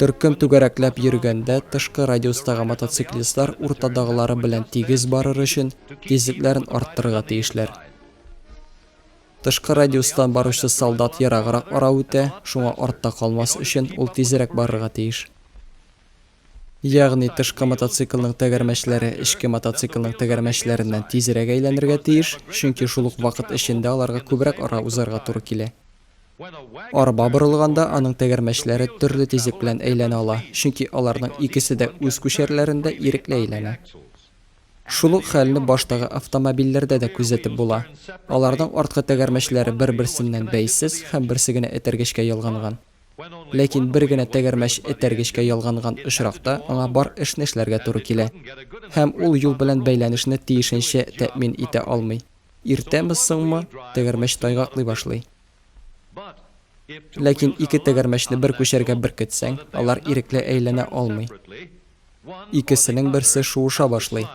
Төркем түгәрәкләп йөргәндә, тышкы радиустагы мотоциклистлар уртадагылары белән тигез барыр өчен, тизлекләрен арттырырга тиешләр. Тышкы радиустан баручы солдат ераграк ара үтә, шуңа артта калмас өчен, ул тизрәк барырга тиеш. Ягъни, тышкы мотоциклның тәгәрмәчләре эчке мотоциклның тәгәрмәчләреннән тизрәк әйләнергә тиеш, чөнки шул ук вакыт эчендә аларга күбрәк ара узарга туры килә. Арба борылганда аның тәгәрмәчләре төрле тизлек белән әйләнә ала, чөнки аларның икесе дә үз күчәрләрендә ирекле әйләнә. Шул ук хәлне баштагы автомобильләрдә дә күзәтеп була, аларның арткы тәгәрмәчләре бер-берсеннән бәйсез һәм берсе генә этәргечкә ялганган. Ләкин бер генә тәгәрмәч этәргечкә ялганган очракта аңа бар эшне эшләргә туры килә, һәм ул юл белән бәйләнешне тиешенчә тәэмин итә алмый. Иртәме-соңмы, тәгәрмәч тайгаклый башлый. Ләкин ике тәгәрмәчне бер күчәргә беркетсәң, алар ирекле әйләнә алмый. Икесенең берсе шуыша башлый.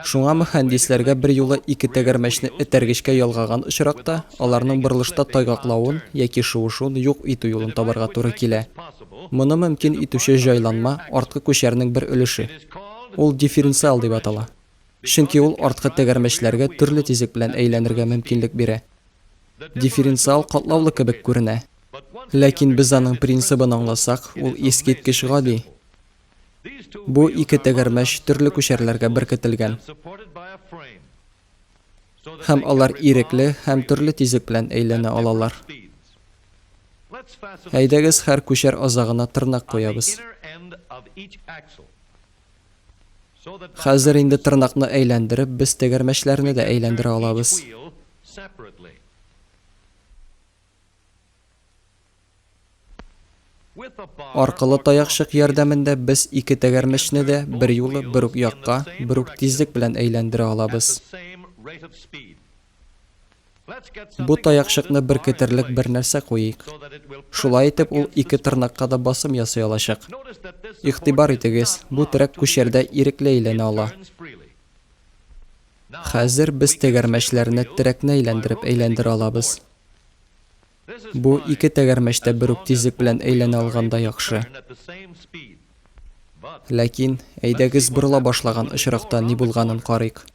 Шуңа мөхәндисләргә берьюлы ике тәгәрмәчне этәргечкә ялгаган очракта, аларның борылышта тайгаклавын яки шуышуын юк итү юлын табарга туры килә. Моны мөмкин итүче җайланма, арткы күчәрнең бер өлеше. Ул дифференциал дип атала. чөнки ул арткы тәгәрмәчләргә төрле тизлек белән әйләнергә мөмкинлек бирә. Дифференциал катлаулы кебек күренә. Ләкин без аның принцибын аңласак, ул искиткеч гади. Бу ике тәгәрмәч төрле күчәрләргә беркетелгән. Һәм алар ирекле һәм төрле тизлек белән әйләнә алалар. Әйдәгез һәр күчәр азагына тырнак куябыз. Хәзер инде тырнакны әйләндереп, без тәгәрмәчләрне дә әйләндерә алабыз. Аркылы таякчык ярдәмендә без ике тәгәрмәчне дә берьюлы бер үк якка, бер үк тизлек белән әйләндерә алабыз. Бу таякчыкны беркетерлек бер нәрсә куйыйк. Шулай итеп ул ике тырнакка да басым ясый алачак. Игътибар итегез, бу терәк күчәрдә ирекле әйләнә ала. Хәзер без тәгәрмәчләрне терәкне әйләндереп әйләндерә алабыз. Бу ике тәгәрмәч тә бер үк тизлек белән әйләнә алганда яхшы. Ләкин, әйдәгез борыла башлаган очракта ни булганын карыйк.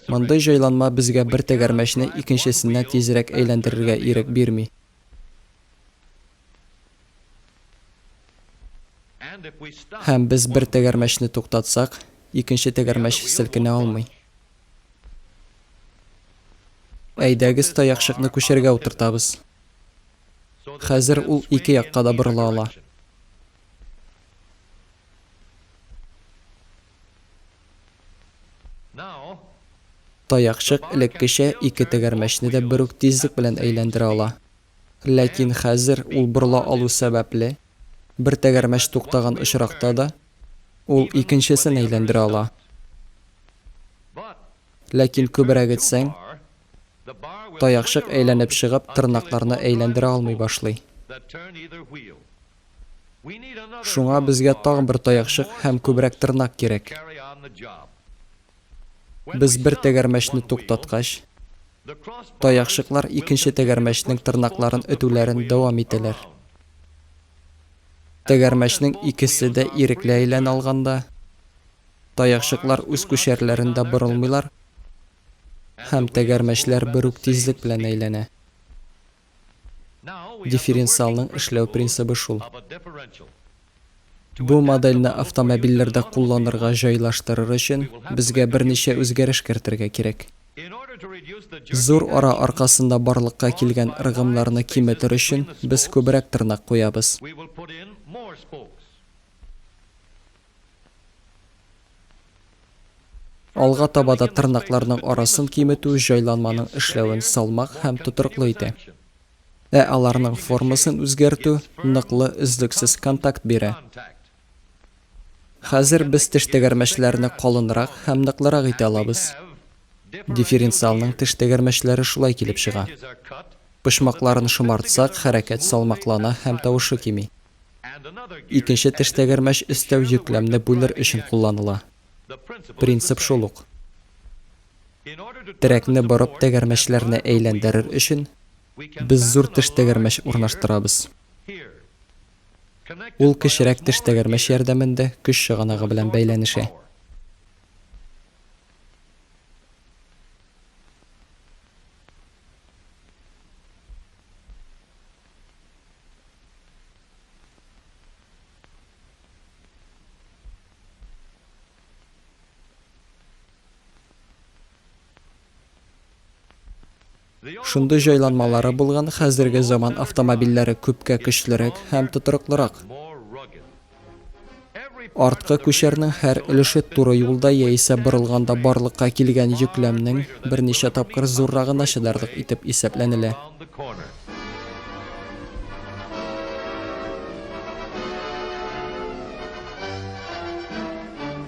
Мондый җайланма безгә бер тәгәрмәчне икенчесенә тизрәк әйләндерергә ирек бирми. Һәм без бер тәгәрмәчне туктатсак, икенче тәгәрмәч селкенә алмый. Әйдәгез таякчыкны күчәргә утыртабыз. Хәзер ул ике якка да борыла ала. Таякчык элеккечә ике тәгәрмәчне дә бер үк тизлек белән әйләндерә ала. Ләкин хәзер ул борыла алу сәбәпле, бер тәгәрмәч туктаган очракта да, ул икенчесен әйләндерә ала. Ләкин күбрәк этсәң, таякчык әйләнеп чыгып, тырнакларны әйләндерә алмый башлый. Шуңа безгә тагын бер таякчык һәм күбрәк тырнак кирәк. Без бер тәгәрмәчне туктаткач, таякчыклар икенче тәгәрмәчнең тырнакларын өтүләрен дәвам итәләр. Тәгәрмәчнең икесе дә ирекле әйләнә алганда, таякчыклар үз күчәрләрендә борылмыйлар һәм тәгәрмәчләр бер үк тизлек белән әйләнә. Дифференциалның эшләү принцибы шул. Бу модельне автомобильләрдә кулланырга җайлаштырыр өчен, безгә берничә үзгәреш кертергә кирәк. Зур ара аркасында барлыкка килгән ыргымнарны киметер өчен, без күбрәк тырнак куябыз. Алга таба да тырнакларның арасын киметү җайланманың эшләвен салмак һәм тотрыклы итә. Ә аларның формасын үзгәртү ныклы, өзлексез контакт бирә. Хәзер без теш тәгәрмәчләрне калынрак һәм ныклырак итә алабыз. Дифференциалның теш тәгәрмәчләре шулай килеп чыга. Почмакларын шомартсак, хәрәкәт салмаклана һәм тавышы кими. Икенче тештәгәрмәч өстәү йөкләмне бүлер өчен кулланыла. Принцип шул ук. Терәкне борып тәгәрмәчләрне әйләндерер өчен, без зур тештәгәрмәч урнаштырабыз. Ул кечерәк тештәгәрмәч ярдәмендә көч чыганагы белән бәйләнешә. Шундый җайланмалары булган хәзерге заман автомобильләре күпкә көчлерәк һәм тотрыклырак. Арткы күчәрнең һәр өлеше туры юлда яисә борылганда барлыкка килгән йөкләмнең берничә тапкыр зуррагына чыдарлык итеп исәпләнелә.